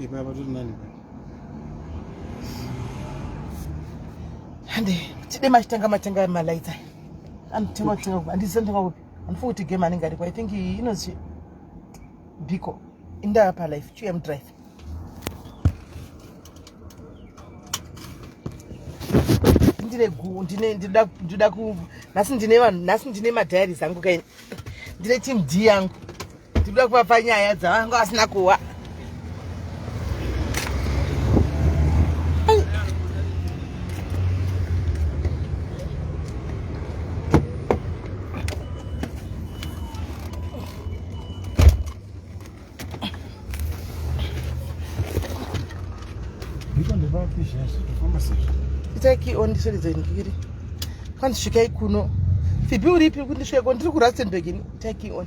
Ipapa tiri nani pa. Hande, tide machitenga machitenga malaita. Eh. Anotengwa kutenga kupi? Andisi anotengwa kupi? Andifunga kuti game anenge ariko. I think he knows Biko. Indaa pa life, QM drive. ndine gu ndine ndinoda ndinoda ku nhasi ndine vanhu nhasi ndine madhayari zangu kaini ndine team d yangu tikuda kuvapa nyaya dzavanga vasina kuwa itaki ondisveredza ndikiri kwanzi svikai kuno fibi uripi kundisveko ndiri kurastenberg ini itaki on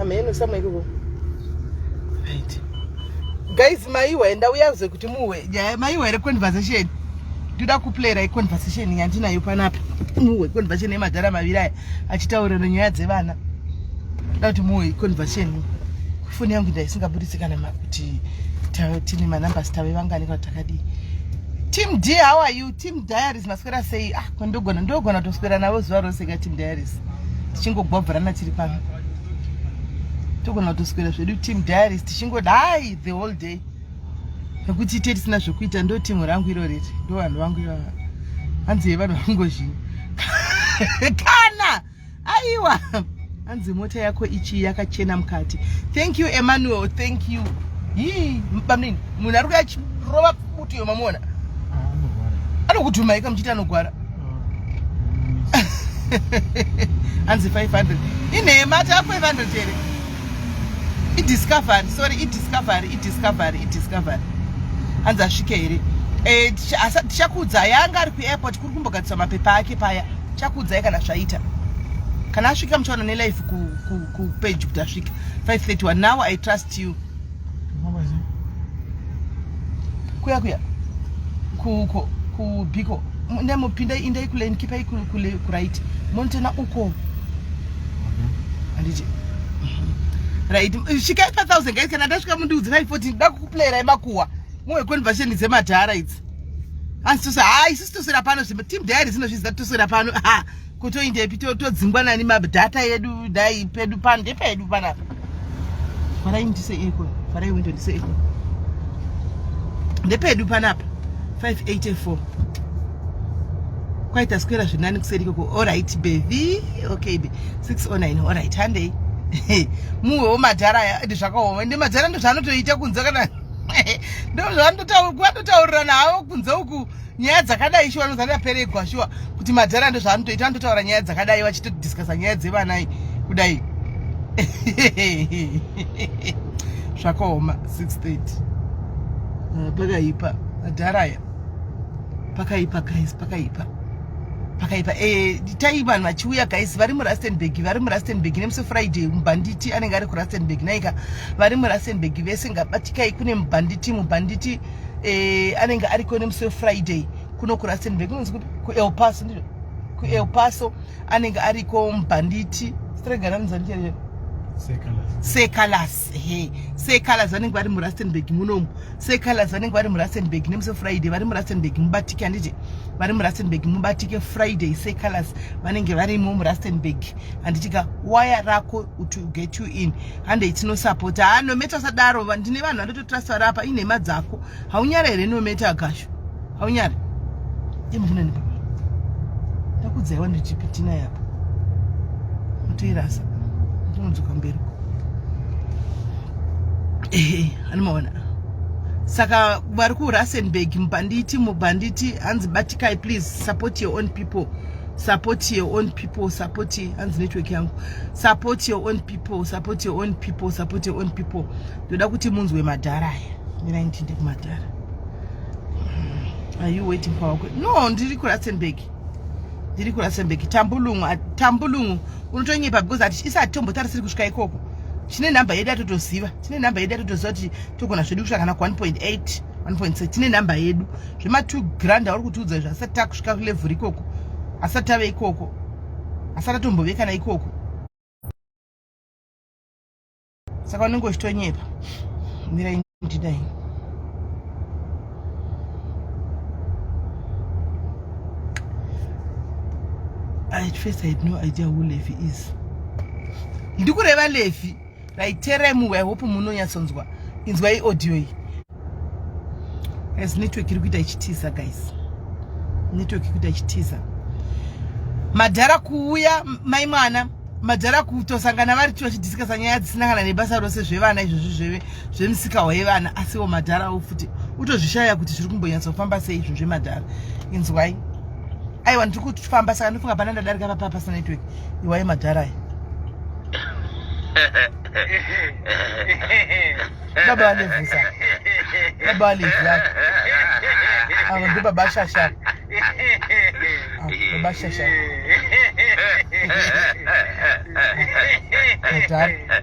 amheno samwe ikoko right guys maiwa enda uyaze kuti muwe nyaya maiwa here conversation ndoda kuplayera iconversation yandinayo panapa muwe conversation yemadhara maviri aya achitaurira nyaya dzevana ndoda kuti muwe iconversation foni yangu ndaisingaburitsi kana kuti tine manumbers tave vangani kana takadii team d how are you team diaries maswera sei ah ndogona ndogona kutoswera navo zuva rose ka team diaries tichingogwabvarana tiri pano togona kutoswera zvedu team diaries tichingodai the whole day nekuti ite tisina zvekuita ndo timu rangu iro riri ndo vanhu vangu ivava hanzi yevanhu vangozhinyi kana aiwa hanzi mota yako ichi yakachena mukati thank you emmanuel thank you hii bamnini munhu ari kuyachirova butu iyo mamuona ah, anokutumaika muchiti anogwara ah, hanzi 500 inhema ta 500 here idiscovery sorry idiscovery idiscovery idiscovery hanzi asvike here eh, tichakuudza yanga ari kuairport kumbogadzisa mapepa ake paya chakuudzai kana zvaita kana asvika muchaona nelife kupage ku, ku kuti asvika 531 now i trust you kuya kuya kuko kubiko nemupinda indai kule ndikipai kule kuraiti monitena uko handiti right svikai pa thousand guys kana ndasvika mundiudzirai foti ndida kukuplayerai makuwa muwe conversation dzemadhara idzi asitose haa ah, isusu toswera pano zvimba team diary zinozviziva toswera pano ha kutoindepi todzingwa nani madhata yedu dai pedu pano ndepedu panapa vharai ndise iko vharai windo ndise iko ndepedu panapa 584 kwaita skwera zvinani kuseri ikoko orit bevi okay be 609 orit handei muwewo madhara aya ende zvakaoma ende madhara ndozvaanotoita kunze kana ndozvandotaurirana havo kunze uku nyaya dzakadai shuwa nozanda peregwa shuwa kuti madhara ndozvaanotoita anototaura nyaya dzakadai vachitodiscasa nyaya dzevanai kudai zvakaoma 630 eh, pakaipa madhara aya pakaipa guys pakaipa pakaipa eh, tai vanhu vachiuya guys vari murastenburg vari murastenburg nemusi friday mubhanditi anenge ari kurastenburg naika vari murastenburg vese ngabatikai kune mubhanditi mubhanditi eh, anenge ariko nemusi wefriday kuno kurastenburg kunonzi kuti kuelpaso ndizvo kuelpaso anenge ariko mubhanditi streganamuzanichee secalas he secalas vanenge vari murastenburg munomu secolors vanenge vari murustenburg nemusi friday vari murustenburg mubatike handiti vari murustenburg mubatike friday secolors vanenge varimo murustenburg handitika waya rako to get you in handei tinosapota ha nometa usadaro ndine vanhu vandototrasta vari apa inhema dzako haunyare here nometa agasho haunyare imukunani ndakudzaiwa ndichipitina yapa mutoirasa ndinodzoka mberi ehe anomaona saka vari kurustenburg mubhanditi mubhanditi hanzi batikai please support your own people support your own people support hanzi network yangu support your own people support your own people support your own people ndoda kuti munzwe madhara aya mirai nditinde kumadhara are you waiting for wakwe no ndiri kurustenburg ndiri kurustenburg tambulungu tambulungu unotonyepa because isati tombotarisiri kusvika ikoko tine number yedu yatotoziva tine number yedu yatotoziva kuti togona zvedu kusvika kana ku 1.8 1.6 tine number yedu zvema 2 grand auri kutiudza izvo asati takusvika kulevel ikoko asati tave ikoko asati atombove kana ikoko saka unenge uchitonyepa mira 29 at first i had no idea who levi is ndikureva levi raiteremuwe i hope munonyatsonzwa inzwa iaudio iyi as network iri kuita ichitiza guys network ikuita ichitiza madhara kuuya mai mwana madhara kutosangana vari tiwachidhisikasa nyaya dzisinangana nebasa rose zvevana izvozvi zveve zvemusikahwa yevana asiwo madharawo futi utozvishaya kuti zviri kumbonyatsofamba sei izvo zvemadhara inzwai aiwa ndiri kufamba saka ndofunga pana ndadarika papa pasina network iwai madhara aya baba vanevhusa baba vanevhua ava ndo baba shasha ah, baba shasha madhara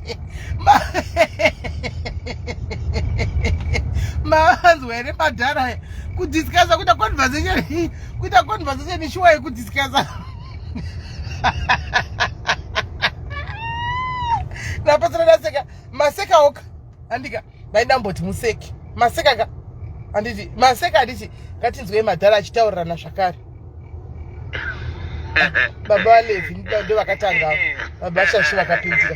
mavanzwa here madhara aya kudiscusa kuita conversation kuita conversation ishuwa yekudiscusa napasana ndaseka maseka oka andika vaidamboti museki maseka ka anditi maseka anditi ngatinzwei madhara achitaurirana zvakare baba valevi ndo vakatanga baba shashi vakapinzira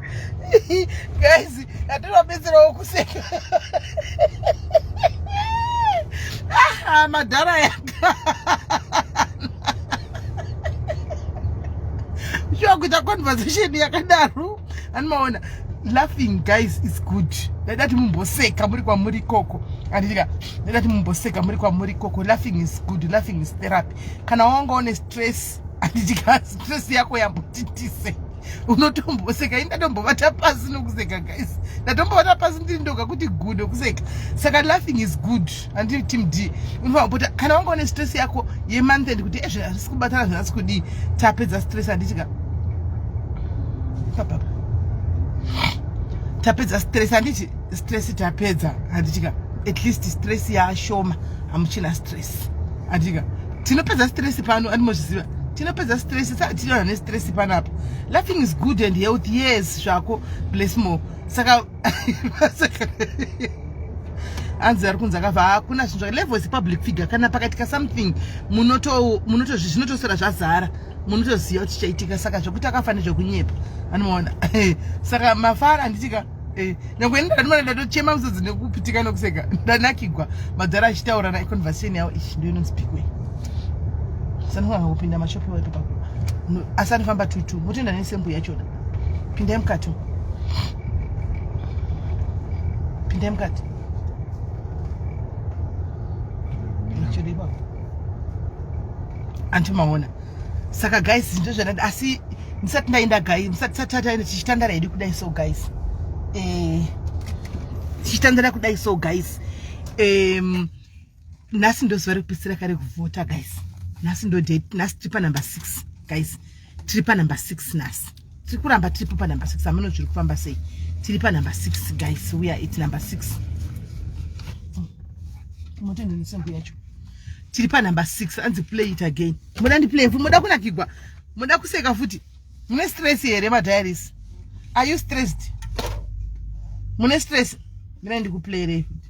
guys atinobetserawo kuseka ah, madhara yaka shuwa kuita conversation yakadaro animaona laughing guys is good ndadati mumboseka muri kwamuri ikoko anditika ndadati mumboseka muri kwamuri ikoko laughing is good laughing is therapy kana wanga une stress anditika stress yako yambotitise unotomboseka indatombovata pasi nokuseka guys ndatombovata pasi ndiri ndoga kuti good okuseka saka laughing is good andii team d unofanira kupota kana wanga une stress yako yemonth and kuti ezve eh, hazvisi kubatana zvinasi kudii tapedza stress handitika papapa tapedza stress handiti stress tapedza handitika at least stress yaashoma hamuchina stress stress adika tinopedza stress pano andimozviziva tinopedza stress sationa nestress panapa laughing is good and health yes zvako bless more saka anzi ari kunzi akabva hakuna zvinhu zvake level is public figure kana pakaitika something munotozvinotosora zvazara munotoziva kuti chaitika saka zvekuti akafa nezvekunyepa anomaona saka mafara anditika Eh, nyangwe ini ndandimana ndatochema muzodzi nekupitika nekuseka ndanakigwa madhara achitaura na conversation yavo ichi ndo inonzi pikwe sanofana kupinda mashopi waipo pako asi anofamba tutu motenda nesembu yachona pindai mukati pindai mukati antimaona saka guys ndozvadada asi ndisati ndaenda gai musati satataenda tichitandara hedu kudai so guys eh, tichitandara kudai so guys um, nhasi ndozuva rekupisira kare kuvhota guys nhasi ndodate nhasi tiri panumber six guys tiri panumber six nhasi tiri kuramba tiripo panumber six ameno zviri kufamba sei tiri panumber six guys we are it number six motendenesembo yacho tiri panumber six anzi play it again moda ndiplay futi moda kunakigwa moda kuseka futi mune stress here madiaries are you stressed mune stress mina ndikuplayerei futi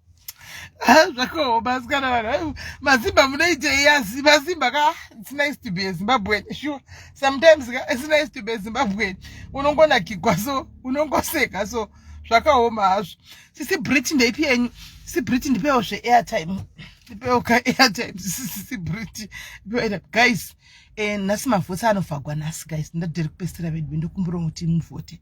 Ah, zvakaoma asikana vanhu mazimba munoitei asi mazimba ka it's nice to be a zimbabwean sure sometimes ka it's nice to be a zimbabwean unongonakigwa so unongoseka so zvakaoma hazvo sisi brit ndeipi yenyu sisi brit ndipewo zve airtime ndipewo ka airtime sisi brit guys eh, nhasi mavhotsi anofagwa nhasi guys ndadiri kupesera vedu ndokumbura kuti muvhote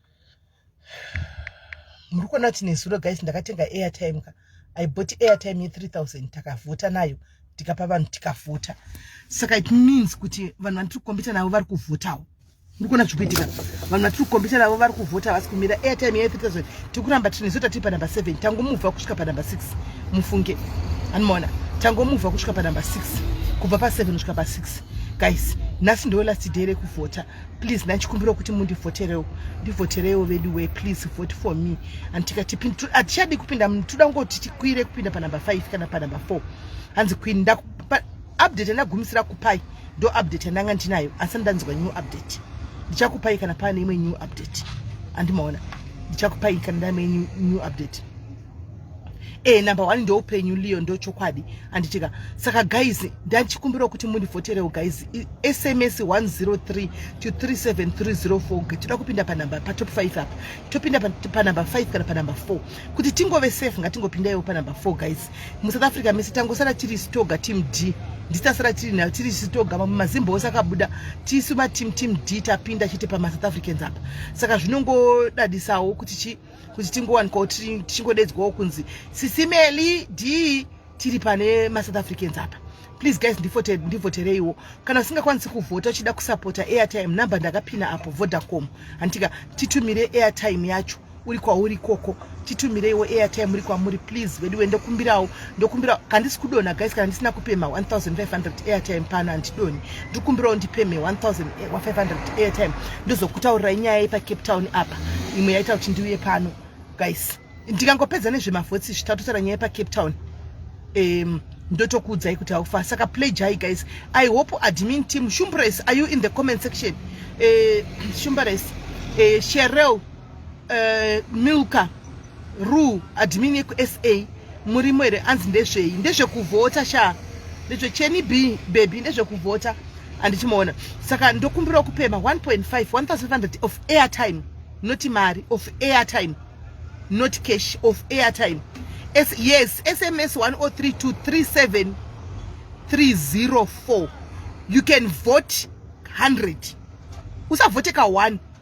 muri kuona kuti nezuro guys ndakatenga airtime ka i bought airtime ye3000 takavhota nayo tikapa vanhu tikavhota saka it means kuti vanhu vandiri kukombita navo vari kuvhotawo muri kuona zviri kuitika vanhu vatiri kukombita navo vari kuvhota havasi kumira airtime ye3000 tiri kuramba tiri nezuro tatiri panumber 7 tangomuvha kusvika panumber 6 mufunge anomaona tangomuvha kusvika panumber 6 kubva pa7 kusvika pa6 guys nhasi ndo last day rekuvhota please ndachikumbira kuti mundivhoterewo ndivhoterewo vedu we please vote for me and tikati hatichadi kupinda toda kungoti tikwire kupinda panumber five kana panumber four hanzi queen ndakupa update yandagumisira kupai ndo update yandanga ndinayo asi ndanzwa new update ndichakupai kana pane imwe new update andimaona ndichakupai kana ndaime new update e number one ndoupenyu liyo ndochokwadi anditika saka guys ndanchikumbirawo kuti mundivoterewo guys sms 103 to 37304 toda kupinda panumber patop 5 apa topinda panumber 5 kana panumber 4 kuti tingove safe ngatingopindaiwo panumber 4 guys musouth africa mese tangosara tiri stoga team d ndisasara tiri nayo tiri sitoga mamwe mazimba ose akabuda tisu mateam team d tapinda chete pamasouth africans apa saka zvinongodadisawo kuti chii kuti tingowanikwawo tichingodedzwawo kunzi sisimeli d tiri pane masouth africans apa please guys ndivhotereiwo kana usingakwanisi kuvhota uchida kusapota airtime number ndakapina apo vodacom handitika titumire airtime yacho uri kwauri ikoko titumireiwo airtime uri kwamuri please vedu wendokumbirawo ndokumbira kandisi kudona guys kana ndisina kupema 1500 airtime pano handidoni ndikumbirawo ndipeme 1500 eh, airtime ndozokutaurirai nyaya yepa cape town apa imwe yaita kuti ndiuye pano guys ndikangopedza nezvemavhotsi zvitatu tara nyaya yepa cape town um, ndotokuudzai kuti haufa saka play jai guys i hope admin team shumbres are you in the comment section uh, shumbres uh, sherel uh, milka ru admin yekusa murimo here anzi ndezvei ndezvekuvhota sha ndezvecheni b bebi ndezvekuvhota handichimaona saka ndokumbirawo kupema 1.5 1500 of airtime not mari of airtime not cash of airtime S yes sms 103237 304 you can vote 100 usavhote ka 1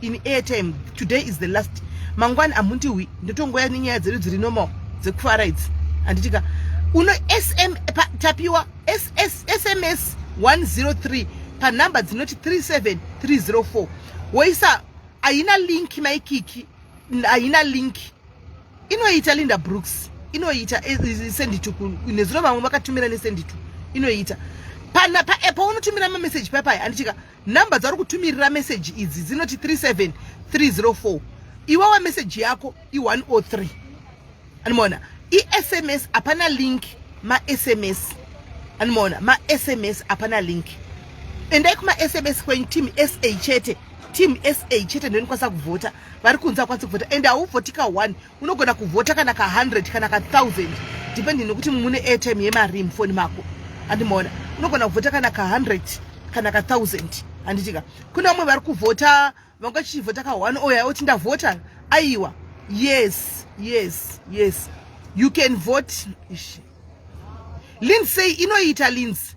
in airtime today is the last mangwani amundihwi ndotongoya nenyaya dzedu dziri normal dzekufara idzi handitika uno sm pa, tapiwa SS, sms 103 panhamba dzinoti 37304 woisa haina link maikiki haina link inoita linda brooks inoita eh, eh, senditu nezuro vamwe vakatumira nesenditu inoita pana paunotumira mameseji paya paya handitika Number dzauri kutumirira message idzi dzinoti 37304. Iwawa message yako i103. Animoona? ISMS hapana link ma SMS. Animoona? Ma SMS hapana link. Endai kuma SMS kwenyu team SA chete. Team SA chete ndonikwanisa kuvhota. Vari kunzi akwanisa kuvhota and hauvhoti ka 1. unogona kuvhota kana ka 100 kana ka 1000 depending nekuti mune airtime yemarim foni mako andimoona unogona kuvhota kana ka 100 kana ka 1000 anditika kune vamwe vari kuvhota vanga vachivhota ka one oya oti ndavhota aiwa yes yes yes you can vote lindsay inoita lindsay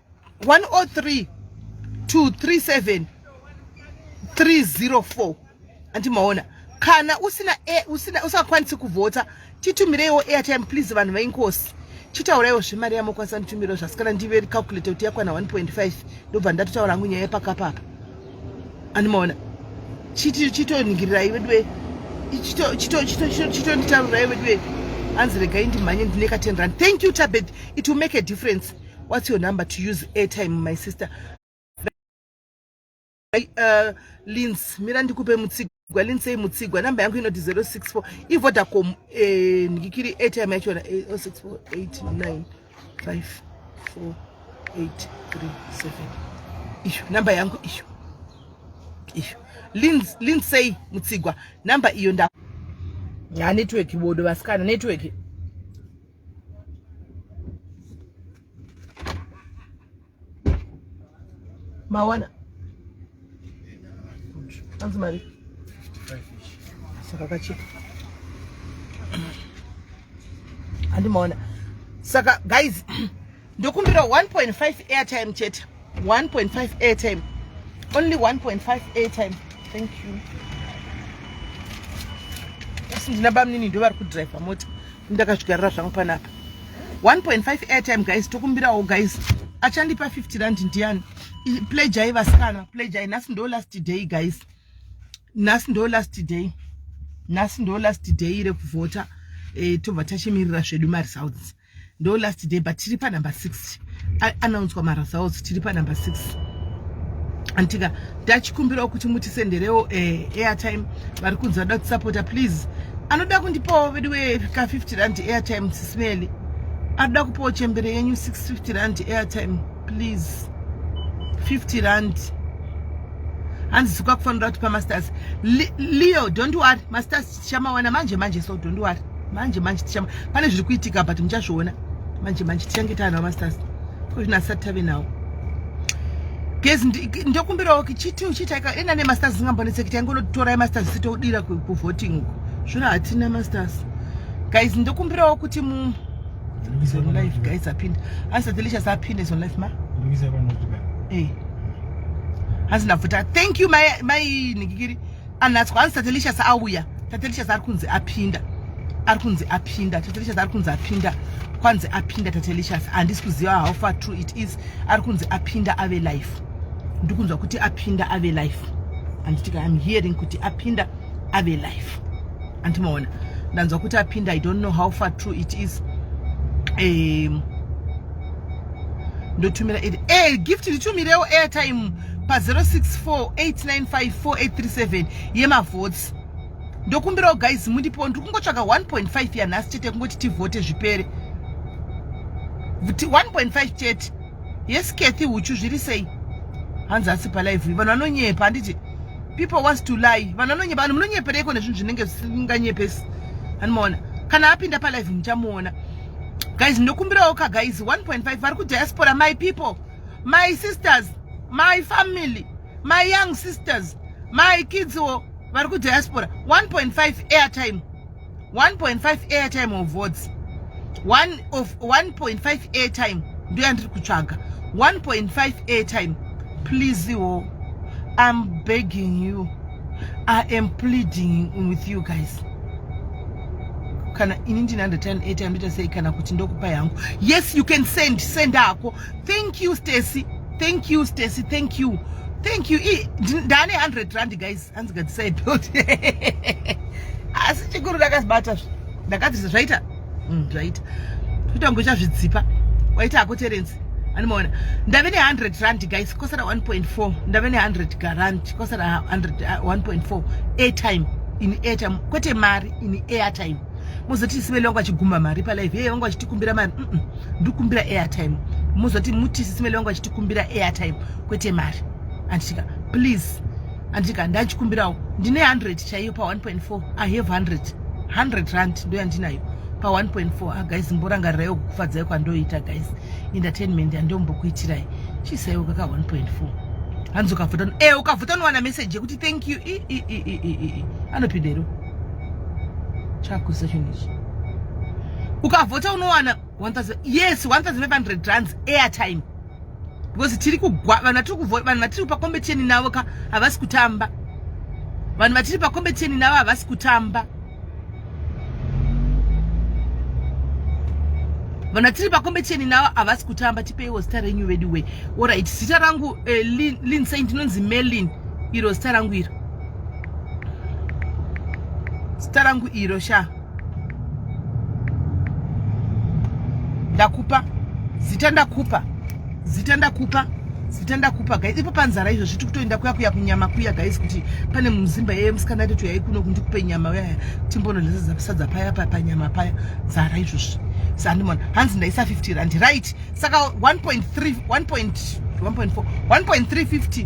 103 237 304 andimaona kana usina e, usina usakwanisi kuvhota titumireiwo airtime please vanhu vainkosi chitauraiwo zvemari yamokwanisa nditumiro zvasikana ndive calculate kuti yakwana 1.5 ndobva ndatotaura hangu nyaya yepakapapa andimaona chitoningirirai chito, veduwe chitonditaurai veduwe hanzi regai ndimhanye ndine ka 10 rand thank you tabet it will make a difference what's your number to use airtime my sister uh, lins mira ndikupe mutsigwa lins ei mutsigwa number yangu inoti 064 ivodacom eh, ndikiri airtime yachona 064895483 eh, oh iyo number yangu iyo iyo linsei mutsigwa number iyo nda ya network bodo vasikana network mawana anzi mari saka kachipa andimaona saka guys ndokumbira 1.5 airtime chete 1.5 airtime only 1.5 airtime thank you asi ndina bamnini ndo vari kudrive mota ndakazvigarira zvangu panapa 1.5 airtime guys tokumbirawo guys achandipa 50 rand ndiani plejai vasikana plejai nhasi ndo last day guys nhasi ndo last day nhasi ndo last day rekuvhota eh, tobva tachimirira zvedu maresults ndo last day but tiri panumber 6 anaunzwa marasaos tiri panumber 6 antika ndachikumbirawo kuti mutisenderewo eh, airtime vari kunzi vada kutisapota please anoda kundipawo vedu weka 50 rand airtime sismeli anoda kupawo chembere yenyu 650 rand airtime please 50 rand hanzi zikwakufanira kuti pamasters leo don't worry masters tichamawana manje manje so don't worry manje manje tichama pane zviri kuitika but muchazviona manje manje tichange taanawo masters ko zvino asati tave nawo gezi ndokumbirawo kichiti uchiitaika enda nemasters zingambonetseki taingonotorai masters sitodira kuvoting uko zvino hatina masters guys ndokumbirawo kuti mu zonlife guys apinde hanzi delicious apinde zonlife ma eh. hanzi ndabvuta thank you mai nigikiri Anhatswa hanzi Tatelicious auya. Tatelicious ari kunzi apinda. Ari kunzi apinda. Tatelicious ari kunzi apinda. Kwanzi apinda Tatelicious. Handisi kuziva how far true it is. Ari kunzi apinda ave life. Ndikunzwa kuti apinda ave life. Anditika I'm hearing kuti apinda ave life. Antimaona. Ndanzwa kuti apinda I don't know how far true it is. Um, ndotumira hey, eh, gift nditumirewo airtime pa0648954837 yemavhotsi ndokumbirawo guys mundipo ndiri kungotsvaga 1.5 yanhasi chete kungoti tivhote zvipere 1.5 chete yes cathy uchu zviri sei hanzi asi palive vanhu vanonyepa handiti people wants to lie vanhu vanonyepa vanhu munonyepereiko nezvinhu zvinenge zvisinganyepesi anomaona kana apinda palive muchamuona guys ndokumbirawo ka guys 1.5 vari kudiaspora my people my sisters my family my young sisters my kids wo vari kudiaspora 1.5 airtime 1.5 airtime of votes 1.5 airtime ndo yandiri kutsvaga 1.5 airtime please wo i'm begging you i am pleading with you guys kana ini ndine undertime airtime ndita sei kana kuti ndokupai hangu yes you can send send ako thank you stacy thank you stacy thank you thank you ndane 100 rand guys hanzi gadzisai belt asi chikuru ndakazibata zve ndakadzisa zvaita mm, zvaita totambocha zvidzipa waita hako terensi animaona ndave ne100 rand guys kosara 1.4 ndave ne100 garant kosara 1.4 uh, airtime in airtime kwete mari in airtime mozoti sibeli wangu achigumba mari palive yeye wangu achitikumbira mari mm -mm. ndikumbira airtime mozoti muti sisi mele vangu vachitikumbira airtime kwete mari anditika please anditika ndachikumbirawo ndine 100 chaiyo pa 1.4 i have 100 100 rand ndo yandinayo pa 1.4 ah, guys mborangarirai kukufadzai kwandoita guys entertainment yandombokuitirai chiisaiwo kaka 1.4 hanzi ukavhuta e eh, ukavhuta unowana message yekuti thank you anopindero chakuzisa chinhu ichi ukavhota unowana 1000 yes 1500 rands airtime because tiri kugwa vanhu vatiri kuvhota vanhu vatiri pakombeteni navo ka havasi kutamba vanhu vatiri pakombeteni navo havasi kutamba vanhu vatiri pakombeteni navo havasi kutamba tipeiwo zita renyu veduway orit zita rangu eh, lin saint inonzi melin iro zita rangu iro zita rangu iro sha ndakupa zita ndakupa zita ndakupa zita ndakupa guys ipo panzara izvo zviti kutoenda kuya kuya kunyama kuya guys kuti pane muzimba yeye musikana atoti yai kuno kundikupe nyama uyaya timbonodlesasadza paya paya panyama paya zara izvozvi sandimona hanzi ndaisa 50 rand right saka 1.3 1.4 1.350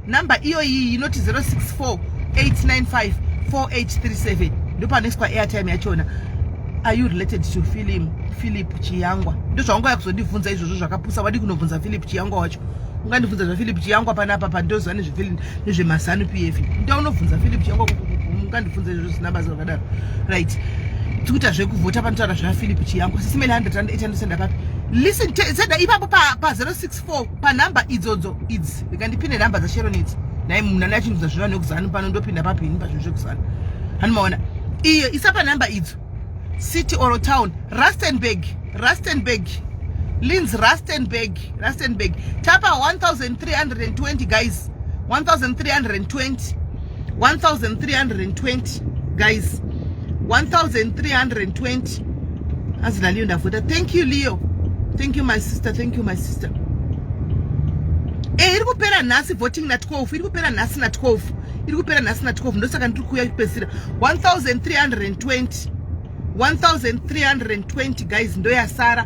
number iyoyi inoti 064 895 4837 ndopanoiswa airtime yachona are you related to film philip chiyangwa ndozvaunga yakuzondibvunza izvozvo zvakapusa wadi kunobvunza philip chiyangwa wacho ungandibvunza zvaphilip chiyangwa panapa pandoziva nezvemazanu p f nda unobvunza philip chiyangwa ungandibvunza izvozvo zvisina bazi rakadaro right tikuita zvekuvhota panotaura zvaphilip chiyangwa sisimene 100 rand 800 rand apapi listen senda ipapo pa 06 for panhamba idzodzo idzi ndikandipine nhamba dzasheron idzi nai munhu ane achinudza zviva nekuzanu pano ndopinda papi ini pazvinhu zvekuzanu hanimaona iyo isa panhamba idzo city or town rustenburg rustenburg lins rustenburg rustenburg tapa 1320 guys 1320 1320 guys 1320 As Leo ndavota. Thank you Leo. Thank you my sister. Thank you my sister. Eh, iri kupera nhasi voting na 12. Iri kupera nhasi na 12. Iri kupera nhasi na 12. Ndosaka ndiri kuuya kupedzisira 1320. 1320 guys ndoyasara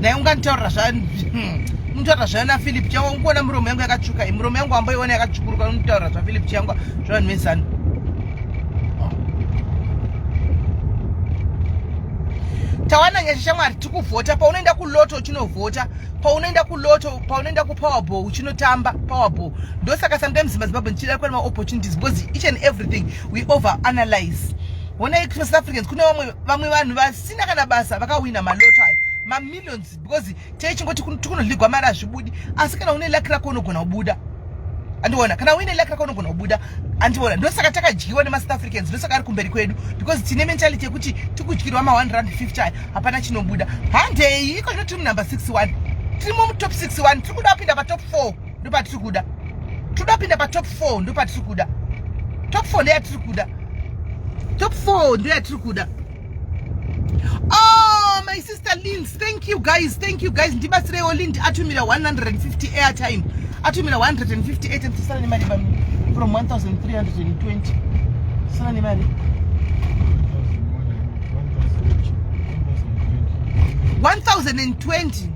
naye unganditaurira zvamutaurira zvayo naphilip changwa unkuona muromo yangu yakatsvuka i muromo yangu wamboiona yakatsvukuruka unitaurira zvaphilip changwa zvavanhu vezanu tawana nyasha shamwari tikuvhota paunoenda kuloto uchinovhota paunoenda kuloto paunoenda kupowerball uchinotamba powerball ndosaka sometimes mazimbabwe ndichida kuva nemaopportunities because each and everything we over analyze honai kuti south africans kune vamwe vamwe vanhu vasina kana basa vakawina maloto ayo mamillions because teichingoti tikunoligwa mari hazvibudi asi kana une laki rako unogona kubuda andiona kana uine laki rako unogona kubuda andiona ndosaka takadyiwa nemasouth africans ndosaka ari kumberi kwedu because tine mentality yekuti tikudyirwa ma 150 ayo hapana chinobuda handei iko zvinoti munumber 61 tirimo mutop 61 tiri kuda kupinda patop 4 ndopatiri kuda toda kupinda patop four ndopatiri kuda top four ndeyatiri kuda top four ndeyatiri kuda oh my sister lins thank you guys thank you guys ndibatsireiwo lind atumira 150 airtime atumira 158 and tisana nemari from 1320 tisana nemari 1020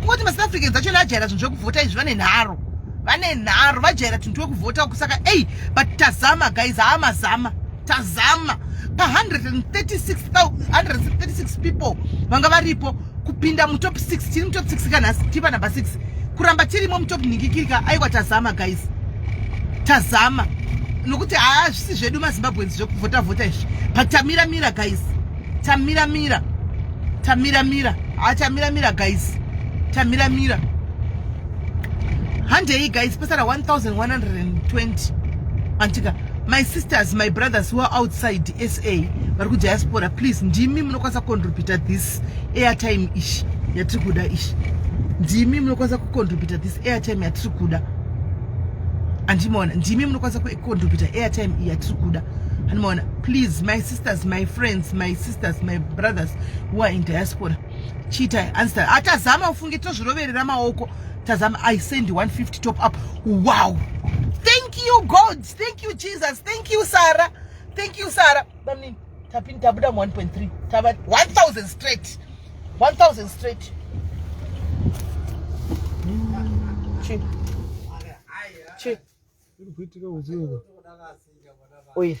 Kungoti maSouth Africans acho ajaira zvinhu zvekuvhota izvi vane nharo. Vane nharo vajaira tuntu wekuvhota kusaka ei but tazama guys haa mazama tazama pa 136 people vanga varipo kupinda mutop 6 tiri mutop 6 kanhasi tipa number 6 kuramba tirimo mutop nhingikirika aiwa tazama guys tazama nokuti haa zvisi zvedu mazimbabweans zvekuvhota vhota izvi but tamira mira guys Tamira mira. Tamira mira. Ah Tamira mira guys. Tamira mira. Handei guys pasara 1120. Antika my sisters my brothers who are outside SA vari ku diaspora please ndimi munokwanisa kucontributa this airtime ish yatiri kuda ish ndimi munokwanisa kucontributa this airtime yatiri kuda andimaona ndimi munokwanisa kucontributa airtime yatiri kuda andimaona please my sister sisters my friends my sisters my brothers who are in diaspora chiita answer atazama ah, ufunge tozviroverera maoko tazama i send 150 top up wow thank you god thank you jesus thank you sarah thank you sarah bamnini tapini tabuda mu 1.3 tava 1000 straight 1000 straight chi chi iri kuitika uziva oiri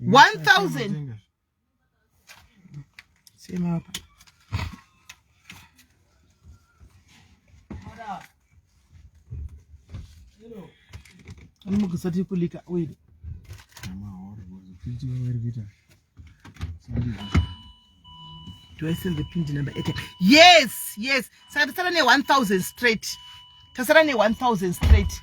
1000 sema apa anogisa tiri kulika oil do i send the pindi number at yes yes saka tasara ne 1000 straight tasara ne 1000 straight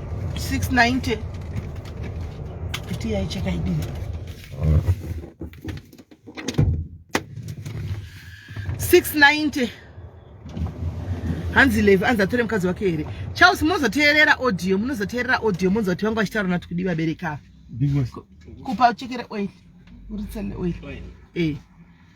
690 kuti yaicheka idini 690 hanzi levi anzi atore mukadzi wake here charles munozoteerera audio munozoteerera audio munonzwa kuti vangu vachitaura nati kudi vabereka kupa uchekere oil uritsele oil e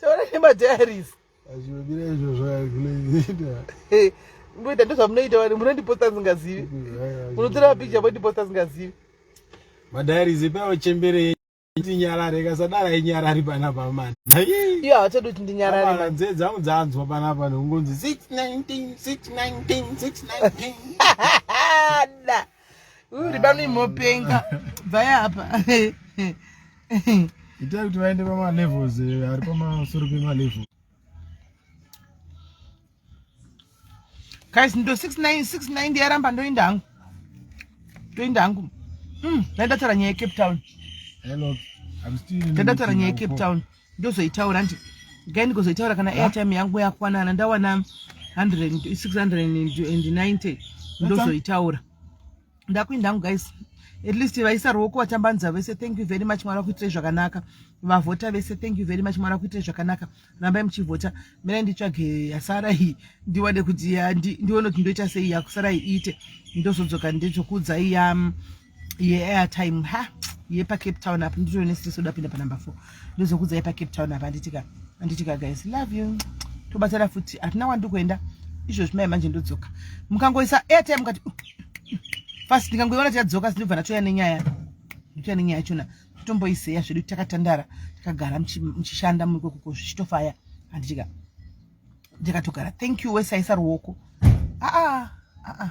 taura nemadiaries azvimira izvozvo arikunoita ngoita ndozvamunoita wani munondiposta singazivi munotora mapicha mondiposta singazivi madiaries ipawo chembere ndinyarare kasadara inyarari panapa mani iyo hachadi kuti ndinyarare nzee dzangu dzanzwa panapa nekungonzi 619 619 619 ribanu imopenga bvaya apa itai kuti vaende pamalevels eh, ari pamasoro pemalevel guys ndo 690 yaramba ndoinda hangu ndoinda hangu ndaidataura hmm, nyaya yecape town ndaidataura nyaya yecape town ndozoitaura ndi gai ndikozoitaura kana airtime yangu yakwanana ndawana 690 ndozoitaura ndakuinda hangu guys at least vaisa ruoko vatambanza vese thank you very much mwari vakuitirei zvakanaka vavhota vese thank you very much mwari vakuitirei zvakanaka rambai muchivhota mira nditsvage yasara iyi ndiwane kuti ndione kuti ndoita sei yakusara iite ndozodzoka ndezvokuudzai yam yeairtime ha yepacape town apo nditoo nesitreso dapinda panumber four ndozokudza yepacape town apo anditika anditika guys love you tobatsira futi hatina kwandi kuenda izvozvi mai manje ndodzoka mukangoisa airtime mukati fast ndikangoiona tichadzoka sindibva ndatoya nenyaya ndotoya nenyaya chona totomboiseya zvedu takatandara takagara muchishanda muikokoko zvichitofaya anditika ndikatogara thank you wesaisa ruoko aa ah, aa ah, ah,